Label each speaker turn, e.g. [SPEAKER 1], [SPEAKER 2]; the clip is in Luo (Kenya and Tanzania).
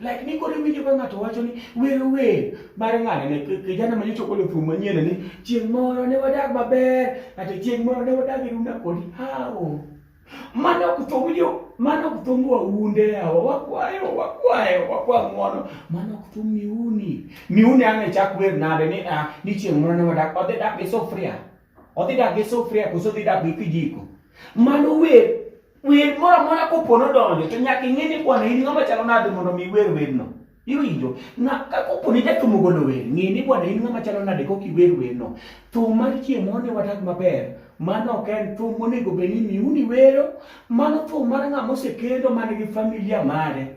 [SPEAKER 1] Like ni koro winjo ka ng'ato wacho ni wer wer mar ng'ane ne kijana ma nyocha ogolo thum manyien ni chieng' moro ne wadag maber kata chieng' moro ne wadag e runda kodi hawo. Mano ok thum yo mano ok thum waunde yawa wakwayo wakwayo wakwa ng'wono mano ok thum miuni miuni ang' e chak wer nade ni ah, ni chieng' moro ne wadag odhi dak gi sufria Odhi dak gi sufria koso odhi dak gi kijiko. Mano wer wer moro amora kopo nodonjo to nyaka ing'e ni bwana in ng'ama chalo nade mondo mi iwer werno. Iwinjo? Na ka kopo ni jatumo golo wer, ng'e ni bwana in ng'ama chalo nade kok iwer werno. Thum mar chiemo ne wadak maber. Mano ok en thum monego bed ni miuni wero, mano thum mar ng'ama osekendo man gi familia mare.